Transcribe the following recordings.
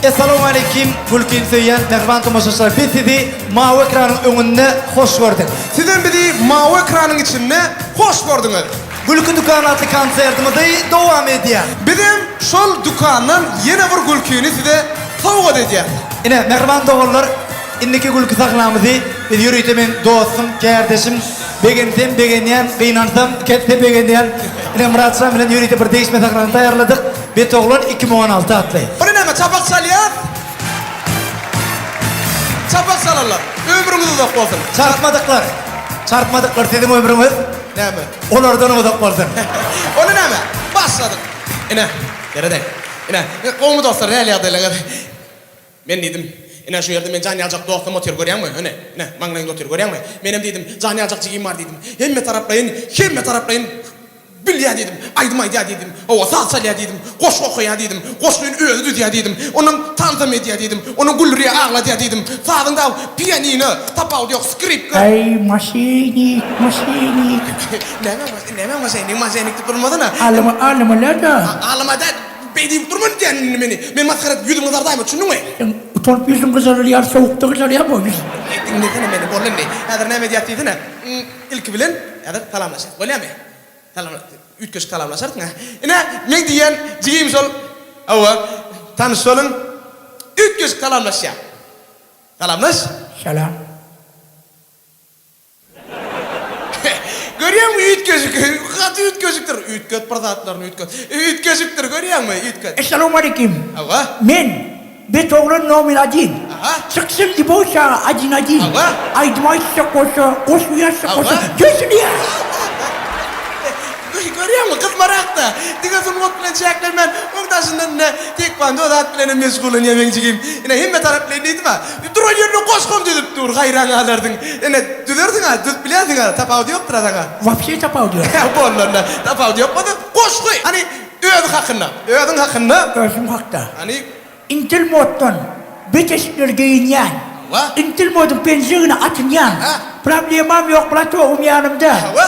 Essalamu aleýkim, mülkini söýýän mähriban tomaşaçylar. Biz sizi mawy ekranyň öňünde hoş gördük. Siz hem bizi mawy ekranyň içinde hoş gördüňiz. Gülki dükany atly konsertimizi dowam edýär. Biz hem şol dükandan ýene bir gülkini size sowgat edýäris. Ine, mähriban doganlar, Indiki gülki sahnamyzy biz ýörite meň dostum, kärdeşim, begensem begenýän, gynansam ket-de begenýän ine Myratjan bilen ýörite bir degişme sahnany taýýarladyk, Betoglan iki müň on alty atly. Ony näme, çapak çalýas? Çapak çalanlar, ömrüňiz uzak bolsun! Çarpmadyklar, çarpmadyklar, siziň ömrüňiz Näme? olardanam uzak bolsun! Ony näme, başladyk! Ine, ýöredäý. Ine, gowumy dostlar, nähili ýagdaýlaryňyz? Men diýdim, Ine, şu ýerde men jan ýaljak dostum otyr, görýäňmi? Ine, ine, maňlaýynda otyr, görýäňmi? Menem diýdim, jan ýaljak jigim bar diýdim. Hemmetaraplaýyn, hemmetaraplaýyn bilýär diýdim. Aýdym aýdýar diýdim. Hawa, saz çalýar diýdim. Goşgy okaýar diýdim. Goşgyny özi düzýär diýdim. Onuň tansam edýär diýdim. Onuň güldürýär, agladýar diýdim. Sazyň dagy pianino, tapawudy ýok, skripka. Äý, maşenik, maşenik. Näme, näme maşenik, maşenik diýip durmasana. Alym, alymylar-da. Alym-a däl. Beý diýip durma indi diýýän indi meni. Men masgara edip ýüzüňi gyzardaýma düşündiňmi? Sen utanyp ýüzüň gyzarylýar sowukda gyzarýar bu ýüz. Beý diňlesene meni bol indi. Häzir näme edýäs diýsene. Ilki bilen häzir salamlaşaýyk bolýamy? Salam üýtgeşik salamlaşarys hä. Ine meň diýýän jigim şol hawa tanyş boluň. Üýtgeşik salamlaşýar. Salamlaş. Salam. Görýäňmi, üýtgeşik, gaty üýtgeşikdir. Üýtget bir zatlaryny, üýtget. Üýtgeşikdir, görýäňmi, üýtget. Essalowmaleýkim. Hawa. Men, Betoglan nomer adin. Aha. Çyksyn Libowşa adin adin. Hawa. Aýdym aýtsa goşa, goşgy ýazsa goşa. Hawa. Döşünýär. Görýäňmi, gyzmarak-da. Diňe sungat bilen çäklenmän, oň daşyndan ine, tekwando zat bilenem meşgullanýar meň jigim. Ine, hemme tarap bilen diýdim-ä. Duran ýerine goşgam düzüp dur gaýraň galardyň. Ine düzerdiňa düzüp bilerdiňa tapawudy ýokdyra saňa. Wapşe tapawudy ýok. He boldy onda tapawudy ýok bolsa goşgy hany özi hakynda öziň hakynda. Özüm hakda. Hany. Intel moddan bet eşikleri geýinýän. Hawa. Intel modyň penjegine atynýan. He. Problemam ýok brat ogym ýanymda. Hawa.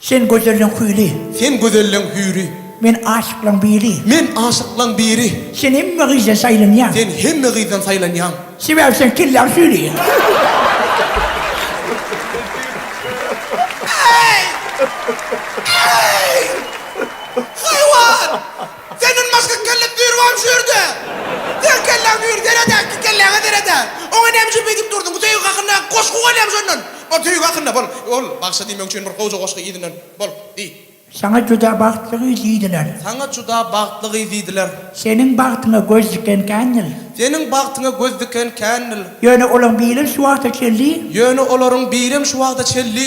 Sen gözelliň hüýri. Sen gözelliň hüýri. Men aşyklaň biri. Men aşyklaň biri. Sen hemme gyzdan saýlanýaň. Sen hemme gyzdan saýlanýaň. Sebäbi sen kelläň süýri. Senden başga kelle düýr barmy şu ýerde? Seň kelläň düýr, seredä, iki kelläňe seredä. Oňa näme üçin beýdip durdyň? Bu söýgi hakynda goşgy bolýamy şondan? Bol, söýgi hakynda, bol, bol, bagşa diýmek üçin bir gowja goşgy yzyndan, bol, diý. Saňa juda bagtly gyz diýdiler. Saňa juda bagtly gyz diýdiler. Seniň bagtyňa göz diken kändil. Seniň bagtyňa göz diken kändil. Ýöne olaň birem şu wagta çelli. Ýöne olaryň birem şu wagta çelli.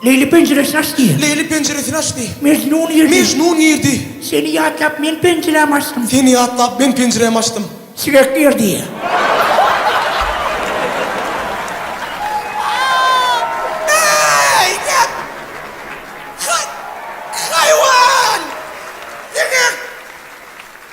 Leýli penjiresini açdy. Leýli penjiresini açdy. Mejnun girdi. Mejnun girdi. Seni ýatlap men penjirämi açdym. Seni ýatlap men penjirämi açdym. Sigek girdi.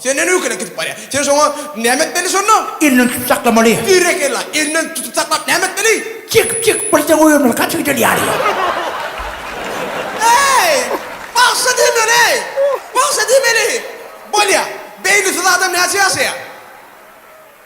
Sen näme öýkelek gidip barýa. Sen şoňa näme etmeli şonda? Elinden tutup saklamaly. Berekella, elinden tutup saklap näme etmeli? Çekip çekip birje goýbermeli gaty gözel ýaly. Eý! Bagşy diýmeli eý! Bagşy diýmeli! Bolýa. Beýnisiz adam näçe ýaşaýa?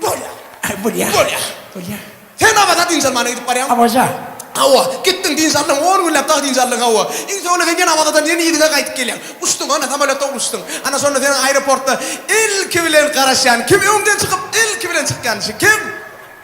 Bolýar. Bolýar. Bolýar. Bolýar. Sen Awaza dynç almana gidip barýaň. Awaza. Hawa. Gitdiň, dynç aldyň. On günläp dagy dynç aldyň, hawa. Iň soňunda sen ýene Awazadan ýene yzyňa gaýdyp gelýäň. Uçduň, ana, samolýotda uçduň. Ana, şonda seniň aeroportda ilki bilen garaşýan kim? Öňden çykyp, ilki bilen çykýan kişi kim?